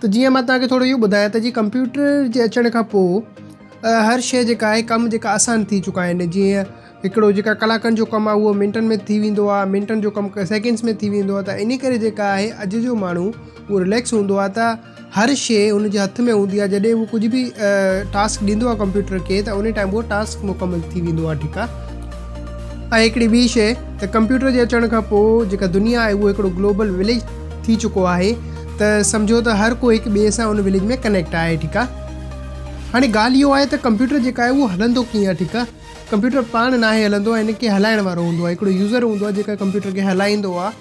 ته جيئن مان توهان کي ٿورو اهو ٻڌايان ته جي ڪمپيوٽر جي اچڻ کان پوء هر شيء جيڪا آهي ڪم جيڪا آسان ٿي چڪا آهن جيئن هڪڙو جيڪا ڪلاڪن جو ڪم آهي اهو منٽن ۾ ٿي ويندو آهي منٽن جو ڪم سيڪنڊس ۾ ٿي ويندو آهي ته انهي ڪري جيڪا آهي اڄ جو ماڻهو اهو رليڪس هوندو آهي ته هر شيء هن جي هٿ ۾ هوندي آهي جڏهن هو ڪجهه به ٽاسڪ ڏيندو آهي ڪمپيوٽر کي ته انهي ٽائيم اهو ٽاسڪ مڪمل ٿي ويندو آهي ٺيڪ آهي ۽ هڪڙي ٻي شيء ته ڪمپيوٽر جي اچڻ کان پوء جيڪا دنيا آهي اهو هڪڙو گلوبل وليج ٿي چڪو آهي ته سمجهو ته هر ڪو هڪ ٻئي سان ان وليج ۾ ڪنيڪٽ آهي ٺيڪ آهي هاڻي ڳالهه اهو آهي ته ڪمپيوٽر جيڪا آهي اهو هلندو ڪيئن آهي ٺيڪ آهي ڪمپيوٽر پاڻ ناهي هلندو ۽ ان کي هلائڻ وارو هوندو آهي هڪڙو يوزر هوندو آهي جيڪا ڪمپيوٽر کي هلائيندو آهي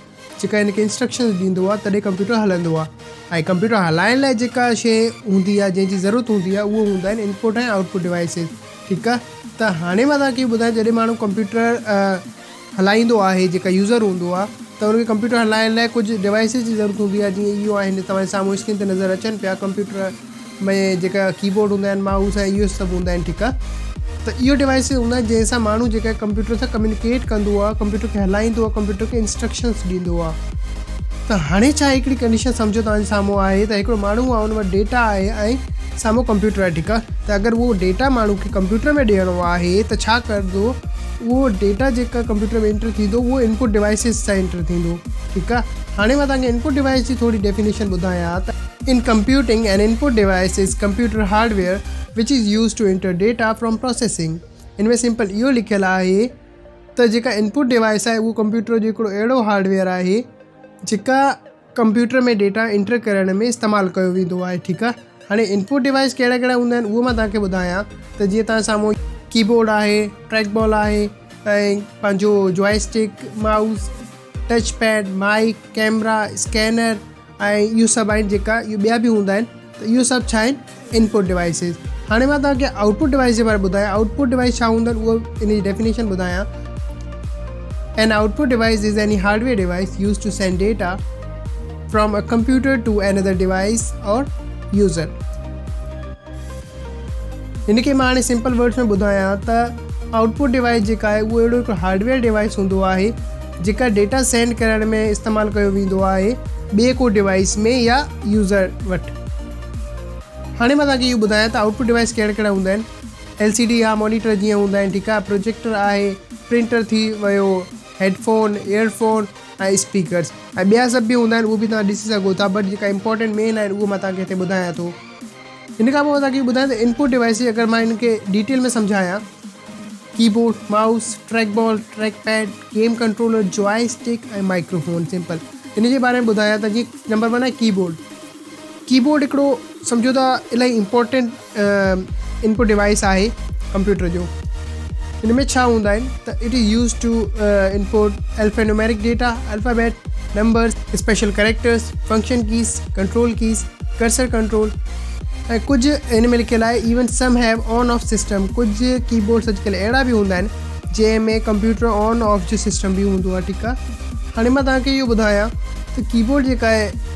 جيڪا ان کي انسٽرڪشنز ڏيندو آهي تڏهن ڪمپيوٽر هلندو آهي ۽ ڪمپيوٽر هلائڻ لاء جيڪا شيء هوندي آهي جنهن جي ضرورت هوندي آهي اهو هوندا آهن انپوٽ ۽ آئوٽ پوٽ ڊوائسز ٺيڪ آهي ته هاڻي مان توهان کي ٻڌايان جڏهن ماڻهو ڪمپيوٽر هلائيندو آهي جيڪا يوزر هوندو آهي ته ان کي ڪمپيوٽر هلائڻ لاء ڪجهه ڊوائيسز جي ضرورت هوندي آهي جيئن اهو آهن توهان جي سامهون اسڪرين تي نظر اچن پيا ڪمپيوٽر ۾ جيڪا ڪيبورڊ هوندا آهن مائوس ۽ اهو سڀ هوندا آهن ٺيڪ آهي ته اهو ڊوائيسز هوندا آهن جنهن سان ماڻهو جيڪا ڪمپيوٽر سان ڪميونيڪيٽ ڪندو آهي ڪمپيوٽر کي هلائيندو آهي ڪمپيوٽر کي انسٽرڪشنز ڏيندو آهي ته هاڻي ڇا هڪڙي ڪنڊيشن سمجهو توهان جي سامهون آهي ته هڪڙو ماڻهو آهي ان وٽ ڊيٽا آهي ۽ سامهون ڪمپيوٽر آهي ٺيڪ آهي ته اگر اهو ڊيٽا ماڻهو کي ڪمپيوٽر ۾ ڏيڻو آهي ته ڇا ڪندو اهو ڊيٽا جيڪا ڪمپيوٽر ۾ انٽر ٿيندو اهو انپٽ ڊوائيسز سان انٽر ٿيندو ٺيڪ آ هاڻي مان توهان کي انپٽ ڊوائيس جي ٿوري ڊيفينيشن ٻڌايان ها ته ان computing an input device is computer hardware which is use to enter data from processing ان ۾ سمپل اهو لکيل آهي ته جيڪا انپٽ ڊوائيس آهي اهو ڪمپيوٽر جو هڪڙو اهڙو هارڊ ويئر آهي جيڪا ڪمپيوٽر ۾ ڊيٽا انٽر ڪرڻ ۾ استعمال ڪيو ويندو آهي ٺيڪ آهي هاڻي انپوٽ ڊوائيس ڪهڙا ڪهڙا هوندا آهن اهو مان توهان کي ٻڌايان ته جيئن توهان سامهون ڪيبورڊ آهي ٽريڪ بال آهي ۽ پنهنجو joystick mouse touch pad mic camera scanner ۽ اهو سڀ آهن جيڪا ٻيا به هوندا آهن ته اهو سڀ ڇا آهن ان پٽ ڊوائيسز هاڻي مان توهان کي آئوٽ پٽ ڊوائيس جي باري ٻڌايان آئوٽ پٽ ڊوائيس ڇا هوندو آهن اهو ان جي ڊيفينيشن ٻڌايان an output device is any hardware device use to send data from a computer to another device or user هن کي مان هاڻي سمپل ورڊس ۾ ٻڌايان ته آئوٽ پٽ ڊوائيس جيڪا آهي اهو اهڙو هڪ هارڊويئر ڊوائيس هوندو آهي جيڪا ڊيٽا سينڈ ڪرڻ ۾ استعمال ڪيو ويندو آهي ٻئي ڪو ڊوائيس ۾ يا يوزر وٽ هاڻي مان توهانکي اهو ٻڌايان ته آئوٽ پٽ ڊوائيس ڪهڙا ڪهڙا هوندا آهن. ايل سي ڊي يا مانيٽر جيئن هوندا آهن ٺيڪ آهي پروجيڪٽر آهي پرنٽر ٿي ويو headphone earphone ۽ speakers ۽ ٻيا سڀ به هوندا آهن اهو به توهان ڏسي سگهو ٿا بٽ جيڪا امپورٽنٽ مين آهن اهو مان توهانکي هتي ٻڌايان ٿو ان کان پوء توهانکي ٻڌايان ته انپوٽ ڊوائيسز اگر مان هن کي ڊيٽيل ۾ سمجهايان keyboard mouse trackball trackpad game controller joystick ۽ microphone simple ان جي باري ۾ ٻڌايان ته جي نمبر ون آهي ڪي بورڊ ڪيبورڊ هڪڙو سمجهو ته الاهي امپورٽنٽ انپٽ ڊوائيس آهي ڪمپيوٽر جو. هن ۾ ڇهه هوندا آهن ته it is used to input alphanumeric data, alphabet, numbers, special characters, function keys, control keys, cursor control ۽ ڪجهه هن ۾ لکيل آهي even some have on off system ڪجهه ڪيبورڊس اڄڪلهه اهڙا به هوندا آهن جنهن ۾ ڪمپيوٽر آن آف جو سسٽم به هوندو آهي ٺيڪ آهي هاڻي مان توهان کي اهو ٻڌايان ته ڪيبورڊ جيڪا آهي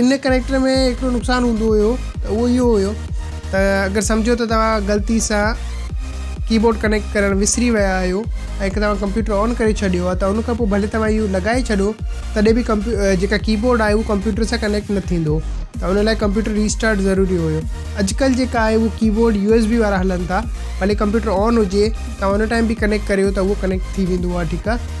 ان ڪريڪٽر ۾ هڪڙو نقصان هوندو هيو ته اهو اهو هيو ته اگر سمجهو ته توهان غلطي سان ڪي بورڊ ڪنيڪٽ ڪرڻ وسري ويا آهيو ۽ توهان ڪمپيوٽر آن ڪري ڇڏيو آهي ته ان کان پوء ڀلي توهان اهو لڳائي ڇڏو تڏهن به ڪمپيو جيڪا ڪي بورڊ آهي اهو ڪمپيوٽر سان ڪنيڪٽ نه ٿيندو ته ان لاء ڪمپيوٽر ريسٽارٽ ضروري هيو اڄڪلهه جيڪا آهي اهو keyboard U S B وارا هلن ٿا ڀلي ڪمپيوٽر آن هجي توهان ان ٽائم به ڪنيڪٽ ڪريو ته اهو ڪنيڪٽ ٿي ويندو آهي ٺيڪ آهي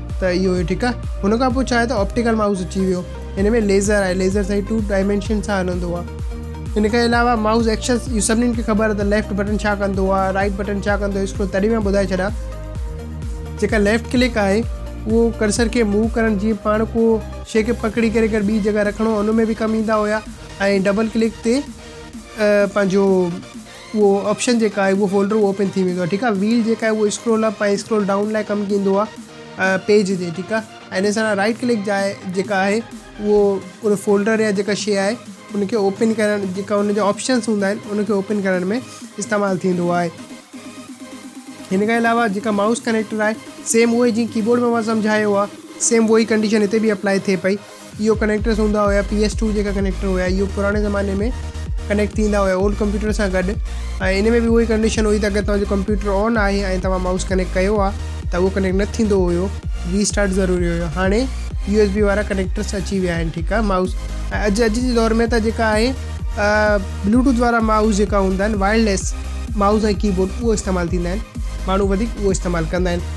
ته اهو هي ٺيڪ آهي ان کان پوء ڇا آهي ته آپٽيڪل مائوس اچي ويو ان ۾ ليزر آهي ليزر سائي ٽو ڊائمينشن سان هلندو آهي ان کان علاوه مائوس ايڪشن اهو سڀني کي خبر آهي ته ليفٽ بٽن ڇا ڪندو آهي رائٽ بٽن ڇا ڪندو اسڪرو تڏهن مان ٻڌائي ڇڏا جيڪا ليفٽ ڪلڪ آهي اهو ڪرسر کي موو ڪرڻ جي پاڻ کو شي کي پڪڙي ڪري ڪر ٻي جڳهه رکڻو ان ۾ به ڪم ايندا هيا ۽ ڊبل ڪلڪ تي پنهنجو اهو آپشن جيڪا آهي اهو فولڊر اهو اوپن ٿي ويندو آهي ٺيڪ آهي ويل جيڪا آهي اهو اسڪرول اپ ۽ اسڪرول ڊائون لاء ڪم ڪندو آهي پيج جي ٺيڪ آهي ۽ ان سان رائٽ ڪلڪ جاء جيڪا آهي اهو ان فولڊر يا جيڪا شيء آهي ان کي اوپن ڪرڻ جيڪا ان جا آپشنس هوندا آهن ان کي اوپن ڪرڻ ۾ استعمال ٿيندو آهي هن کان علاوه جيڪا مائوس ڪنيڪٽر آهي سيم اهو جيئن ڪيبورڊ ۾ سمجهايو آهي سيم اهو ئي ڪنڊيشن هتي به اپلائي ٿئي پئي اهو ڪنيڪٽرز هوندا هيا پي ايس ٽو جيڪا ڪنيڪٽر هيا اهو پراڻي زماني ۾ ڪنيڪٽ ٿيندا هيا اولڊ ڪمپيوٽر سان گڏ ۽ ان ۾ به اهو ئي ڪنڊيشن هئي ته اگر توهان جو ڪمپيوٽر آن آهي ۽ توهان مائوس ڪنيڪٽ ڪيو آهي ته اهو ڪنيڪٽ نه ٿيندو هيو ري اسٽارٽ ضروري هيو هاڻي يو ايس بي وارا ڪنيڪٽرس اچي ويا آهن ٺيڪ آهي مائوس ۽ اڄ اڄ جي دور ۾ ته جيڪا آهي بلوٽوٿ وارا مائوس جيڪا هوندا آهن وائرليس مائوس ۽ ڪيبورڊ اهو استعمال ٿيندا آهن ماڻهو وڌيڪ اهو استعمال ڪندا آهن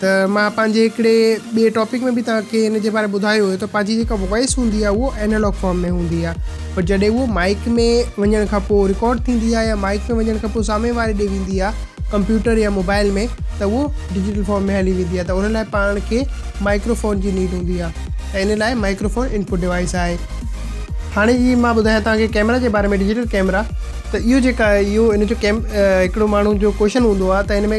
ته مان پنهنجي هڪڙي ٻئي ٽاپڪ ۾ به توهان کي ان جي باري ۾ ٻڌايو هيو ته پنهنجي جيڪا وائيس هوندي آهي اهو اينالاگ فارم ۾ هوندي آهي پر جڏهن اهو مائيڪ ۾ وڃڻ کان پوء رڪارڊ ٿيندي آهي يا مائيڪ ۾ وڃڻ کان پوء سامهين واري ڏي ويندي آهي ڪمپيوٽر يا موبائل ۾ ته اهو ڊجيٽل فارم ۾ هلي ويندي آهي ته ان لاء پاڻ کي مائڪرو فون جي نيڊ هوندي آهي ته ان لاء مائڪرو فون انپوٽ ڊوائيس آهي هاڻي جي مان ٻڌايان توهان کي ڪيمرا جي باري ۾ ڊجيٽل ڪيمرا ته اهو جيڪا اهو ان جو ڪيم هڪڙو ماڻهو جو ڪوشچن هوندو آهي ته ان ۾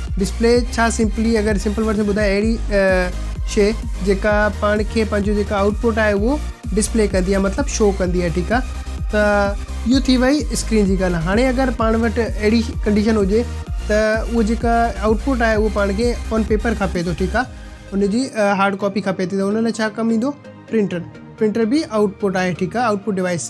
ڊسپلي ڇا سمپلي اگر سمپل ورڊس ۾ ٻڌايان اهڙي شي جيڪا پاڻ کي پنهنجو جيڪا آئوٽ پٽ آهي اهو ڊسپلي ڪندي آهي مطلب شو ڪندي آهي ٺيڪ آهي ته اهو ٿي وئي اسڪرين جي ڳالهه هاڻي اگر پاڻ وٽ اهڙي ڪنڊيشن هجي ته اهو جيڪا آئوٽ پٽ آهي اهو پاڻ کي آن پيپر کپي ٿو ٺيڪ آهي ان جي هارڊ ڪاپي کپي ٿي ته ان لاء ڇا ڪم ايندو پرنٽر پرنٽر به آئوٽ پٽ آهي ٺيڪ آهي آئوٽ پٽ ڊوائس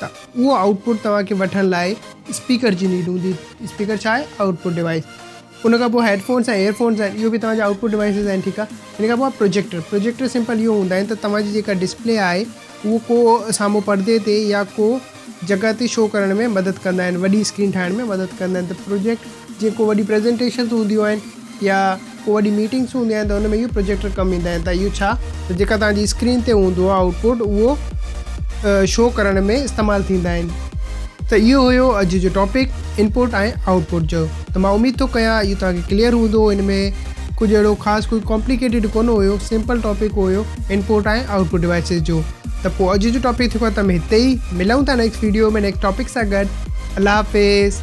ته اهو آئوٽ پٽ توهان کي وٺڻ لاء اسپيڪر جي نيڊ هوندي. اسپيڪر ڇا آهي؟ Output device. ان کان پوء هيڊ فونس ۽ ايئر فونس آهن. اهو به توهان جا آئوٽ پٽ ڊوائيسز آهن، ٺيڪ آهي. ان کان پوء آهي پروجيڪٽر. پروجيڪٽر سمپل اهو هوندا آهن ته توهان جي جيڪا ڊسپلي آهي اهو ڪو سامهون پردي تي يا ڪو جڳهه تي شو ڪرڻ ۾ مدد ڪندا آهن، وڏي اسڪرين ٺاهڻ ۾ مدد ڪندا آهن ته پروجيڪٽ جيئن ڪو وڏي پريزنٽيشنز هونديون آهن يا ڪو وڏي ميٽنگس هوندي آهن ته ان ۾ اهو پروجيڪٽر ڪم ايندا آهن ته اهو ڇا ته جيڪا توهان جي اسڪرين تي هوندو آهي آئوٽ پٽ اهو شو ڪرڻ ۾ استعمال ٿيندا آهن. ته اهو هيو اڄ جو ٽاپڪ ان پٽ ۽ آئوٽ پٽ جو ته مان اميد ٿو ڪيان اهو توهان کي ڪليئر هوندو ان ۾ ڪجهه اهڙو خاص ڪوئي ڪامپليڪيٽيڊ ڪونه هيو سمپل ٽاپڪ هيو input ۽ output devices جو ته پوء اڄ جو ٽاپڪ ٿيو ختم هتي ئي ملون ٿا نيڪسٽ ويڊيو ۾ نيڪسٽ ٽاپڪ سان گڏ الله حافظ.